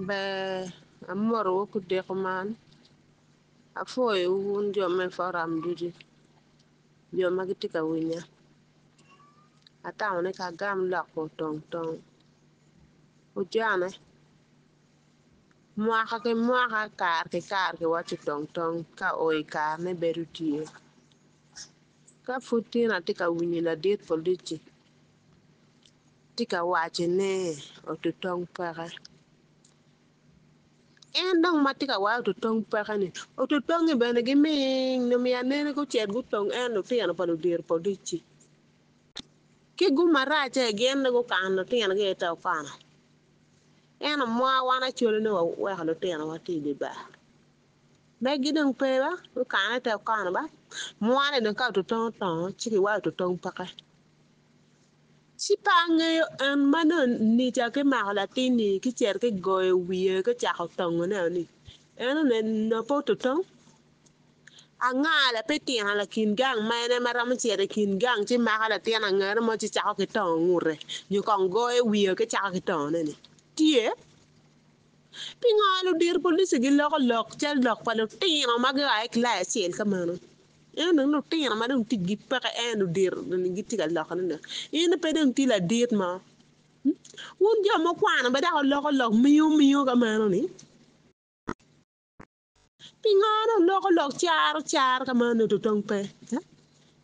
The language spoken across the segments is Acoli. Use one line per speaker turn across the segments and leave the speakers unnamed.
Ber amotowu ku deko man. Apwoyowu wun jo me foram ducu, jo ma gitye ka winya. Atamo ni ka agam lokwu otong tong. Ojane, mwaka ki mwaka, kare ki kare kiwaco otong tong ka oo i karene bedo tye. Ka pud tin atye ka winyo ladit polic-ci. tye ka waco ne otutong peke en dong matye ka waco otutong peke ni otutongi bene giming nyo myero anene gucit gutong en lutino pa ludiro pa odici ki gumarace gin dong gukano lutino gi ite okana eno mwa wan acwalane wa weko lutino wa tye idye bar. Megi dong pe ba, gukane te okono ba, mwane dong ka ototong otongo ci kiwayo ototong peke. Ci pe angeyo en ma nongo nica ki mako latin-ni ki cito ki goyo wiye ki cako tongone-o ni, En one nongo pe ototong? Anga la pe tino lakin gang ma en ema romo cito i kin gang ci mako latin angera mo ci cako ki tongo ngute nyo kong goyo wiye ki cako ki tongone-ni? Tye? Pingo ludito police giloko lok cal lok pa lutino ma gia ki kilai acel ka meno? Ento dong lutino ma dong ticgi peke en ludito ni gitye ka loko ni lok. In pe dong tye ladit mo. Hmm? Wun jo mukwano be dok wuloko lok miyo miyo ka meno ni? Pingo en oloko lok caro car ka ma nongo tutong pe?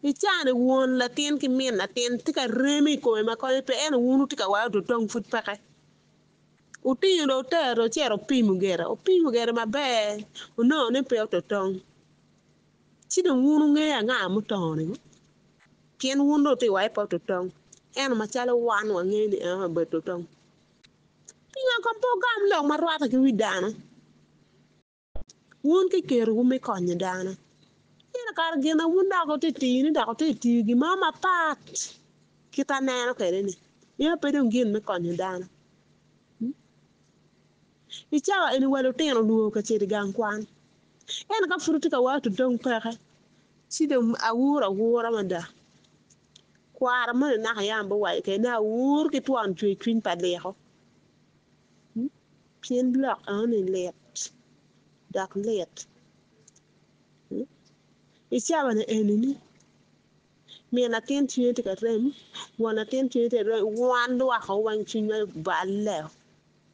I caa-ni won latin ki min latin tye ka reme i kome ma konye pe, ento wun wutye ka wayo tutong pud peke. Wutingo dong wutero dong wucito wupimo gire, wupimo gire maber wunongo ni pe otutong. Ci dong wun wungeyo anga mutongoni ngo? Pien wun dong wutye ka waco ni pe otutong, ento macalo wan wangeyo ni en aye obedo tutong. Pingo kong pe wugam lok ma rwatte ki wi dano? Wun ki kerowu me konyo dano, pire kare gina wun dok wutye tini dok wutye tiyo gin mo mapat kit aneno kwede-ni, meno pe dong gin me konyo dano. Hmm? I cawa eni wa lutino olwor ka cito i gang kwan. Ento ka pud wutye ka wato dong peke, ci dong awur awura mada. Kwaro moni naka yam biwaco kede ni awur ki twon cwercwiny pa leko. Pien lok enoni lit dok lit. I cabane enini, min latin cwinye tye ka rem, won latin cwinye tye ka rem, wan lwakko weng cwinywa balle o,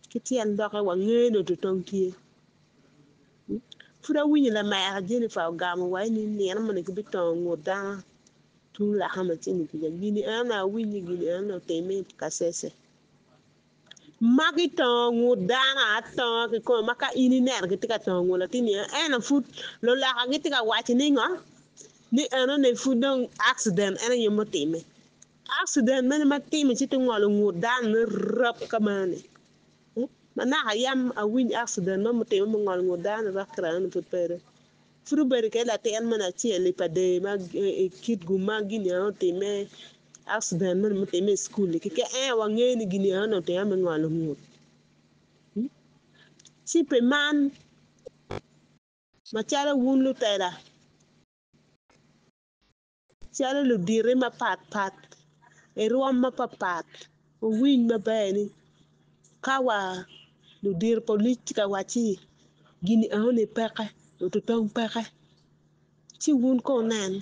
ki tyen dokke wangeyo ni oto tong tye. Pud awinyo lamera Jennifer ogamo wa ni nino moni gibitongo ngut dano. Tung lakam acel-li kuca, gin en awinyo gin en otimme i Kasese. Magi tongo ngut dano atonga kikome ma ka in ineno gitye ka tongo ngut latin ni eno pud luloka gitye ka waco ni ngo ni eno ni pud dong accident en aye mutime accident mene matime ci to ngolo ngut dano ne rap ka meno ni manaka yam awiny accident mo mutime mungolo ngut dano ni rap kira eno ni pud pedo Pud obedo kede latin moni acel-li pa dee ma i kit gum ma Ginian otimme, akciden moni mutimme i cukul-li keken aye wangeyo ni Ginian onongo otime me ngolo ngut. Ci pi man, macalo wun lutela, Calo luditi mapat pat, i rwom mapat pat, wuwiny maber ni, ka wa ludito polic tye ka wacci gini aoni peke, lututong peke, ci wun ko wunen,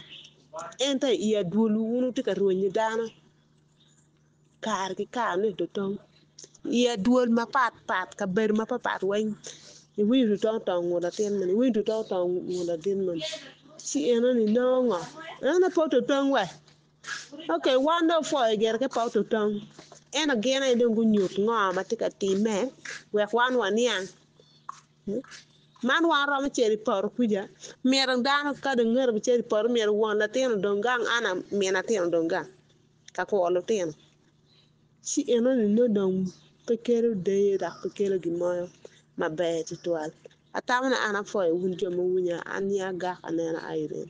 ento i adwolwu wun wutye ka rwenyo dano. Kare ki kare ni tutong iye dwol mapat pat kabedo mapat pat weng iwinyo tutong tong ngut latin moni iwinyo tutong tong ngut ladit moni ci enoni nongo ngo enoni pe tutong wa ok wan dong wapwo i gire ka pe tutong ento gin aye dong gunyut ngo ma tye ka timme wek wan waniang man wan waromo cito i poto kuca myero dano ka dong ite ka cito i poto myero won latin odong gang an amin atin odong gang. ka kwo lutino, ci enoni nongo dong pe kelo deyo dok pe kelo gin mo maber tutwal. Atamo ni an apwoyo wun jo ma wuwinya, an ni agak aneno aye rem.